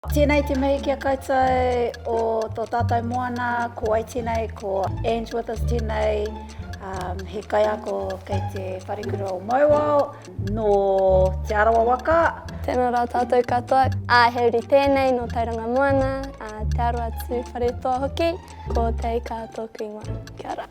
Tēnei te mihi ki a koutou o tō tātou moana, ko wai tēnei, ko Ange Withers tēnei, he kaiako kei te wharekura o Mauao, nō Te Arawa waka. Tēnā rā tātou katoa. He uri tēnei nō Tauranga Moana, Te Arawa Tūwharetoa hoki. Ko Te Ika tōku ingoa. Kia ora.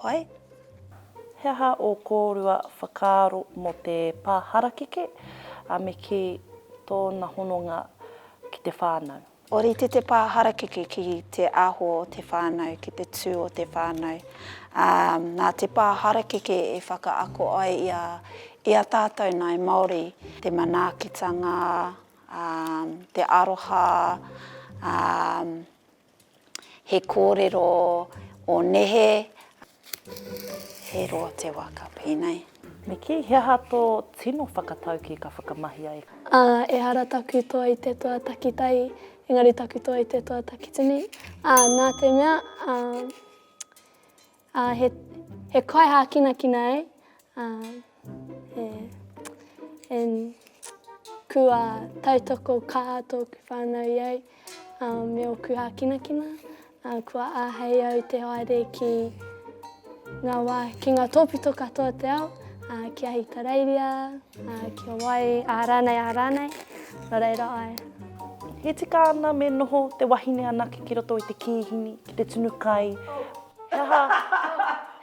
Pai? He aha ō kōrua whakaaro mō te pā harakeke, ā, me kī, tōna hononga ki te whānau? Ōrite te pā harakeke ki te aho o te whānau, ki te tū o te whānau, ā, nā te pā harakeke e whakaako ai i a, i a tātou nāi Māori, te manaakitanga, ā, te aroha, ā, He kōrero o nehe, he roa te wa ka pēnei. Me kī, he aha tō tino whakataukī ka whakamahia e. Ā, ehara taku toa i te toa takitai, engari taku toa i te toa takitini, ā, nā te mea, ā. Ā, he, he kaihākinakina e, ā, he, he, kua tautoko kaha tōku whānau i au ā, me ōku hākinakina, ā, kua āhei au te haere ki ngā wā, ki ngā tōpito katoa o te ao, ā, ki Ahitereiria, ā, ki Hawaii, ā rānei, ā rānei, nō reira ai. E tika ana me noho te wahine anake ki roto i te kīhini ki te tunu kai, He aha,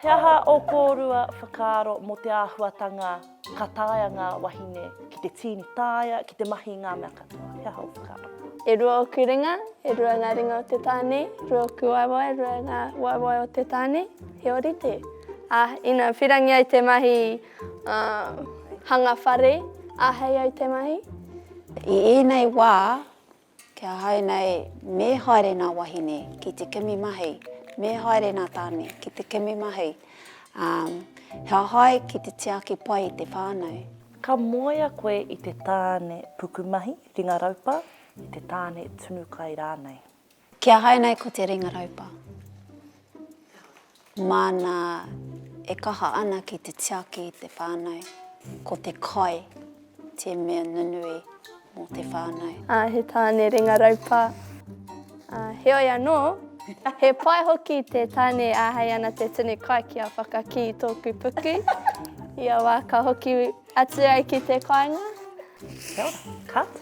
he aha ō kōrua whakaaro mō te āhuatanga ka taea ngā wahine ki te tīni taea, ki te mahi i ngā mea katoa? He aha ō whakaaro? E rua ōku ringa, e rua ngā ringa o te tāne, rua ōku waewae, rua ngā waewae o te tāne, he ōrite. Ā, ina whirangi ai te mahi hanga whare, āhei ai te mahi. I ēnei wā, Kia haina e, me haere nā wahine ki te kimi mahi, me haere nā tāne ki te kimi mahi, ā, he ahae ki te tiaki pai i te whānau. Ka moea koe i te tāne pukumahi, ringa raupa, i te tāne tunu kai rānei. Kia haina e ko te ringa raupa. Māna e kaha ana ki te tiaki i te whānau, ko te kai te mea nunui mō te whānau. Ā, he tāne ringa raupā. Ā, heoi anō, he pai hoki te tāne e āhei ana te tini kai kia whakakī i tōku puku, ia wā ka hoki atu ai ki te kāinga. Kia ora, cut.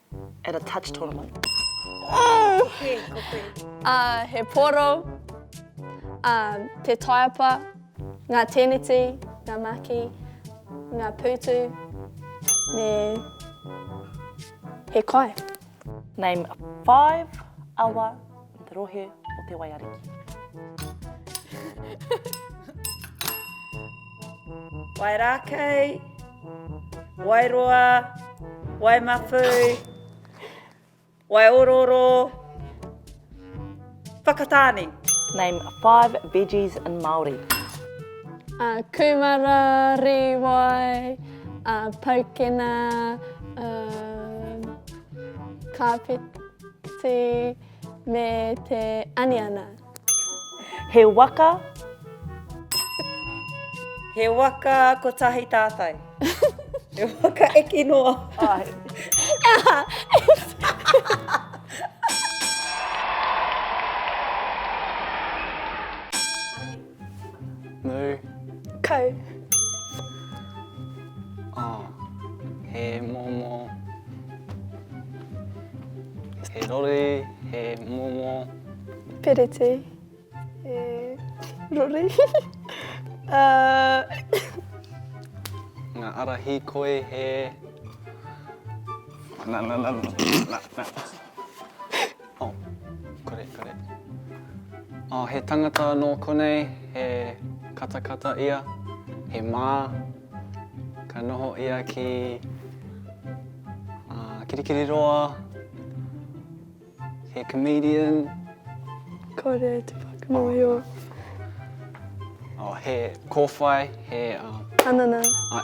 at a touch tournament. Ā, he pōro, ā, te taiapa, ngā tēneti, ngā maki, ngā pūtu, me he kai. Name five awa i te rohe o Te Waiariki. Wairakei, Wairoa, Waimapu, Waiororo, Whakatāne. Name five veggies in Māori. Uh, kumara, rīwai, uh, paukena, uh, kāpeti. Te me te aniana. He waka He waka kotahi tātou. He waka eke noa. Mu. Kau. Oh. He momo. He rori, he momo. Pereti. He rori. uh... ngā ara hīkoi he... Na, na, na, na, na, na. Oh, kore, kore. Oh, he tangata anō konei, he katakata ia, he mā. Ka noho ia ki uh, Kirikiriroa, he comedian. Kore, te whakamōhio. Oh, oh, he kōwhai, he... Uh, Anana. Uh,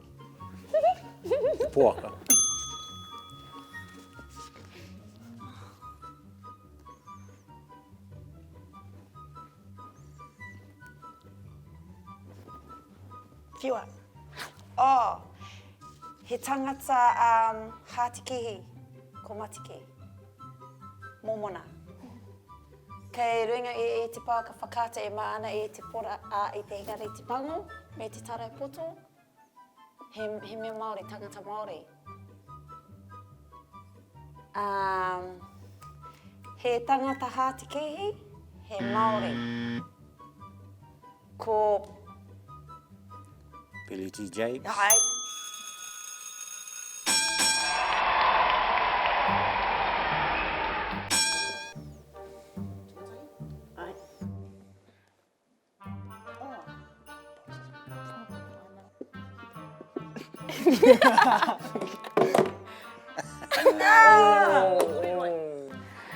Te poaka. Whiua. Oh, he tangata um, hātikihi ko Matiki. Mōmona. Kei ruenga i, i te pāka whakaata e mā ana i te pora a i te hingarei te pango me te tarai poto. He, he mea Māori, tangata Māori. Um, he tangata hātikihi, he Māori. Ko... Billy T. James. Ai.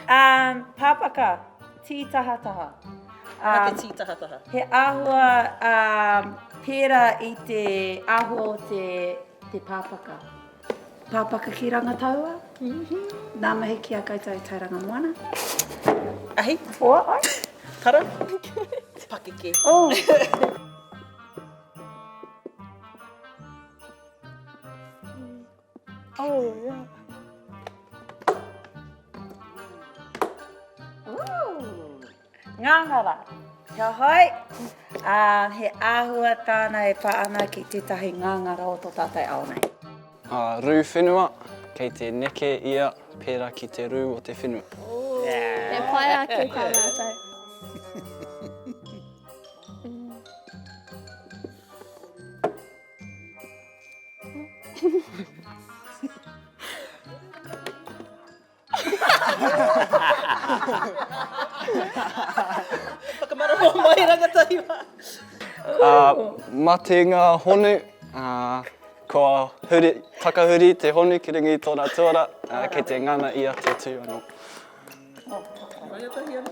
Um, pāpaka, tītahataha. Nā te tītahataha. Um, he āhua um, pērā i te āhua o te, te pāpaka. Papaka ki Rangataua. Nā mihi ki a koutou i Tauranga Moana. Ahi. Oa ai. Tara. Pakeke. Oh. Ooh. Ngangara, kia hai! Ā, he āhua tāna e pā ana ki tētahi ngangara o tō tātou ao nei. Ā, rū whenua, kei te neke ia pērā ki te rū o te whenua. E pai ake tā mātou. Whakamanawa mai rangatahi wā. Kū! Mate ngā honu, kua huri, takahuri te honu ki runga i tōna tuara, kei te ngana ia te tū anō. Rangatahi anō.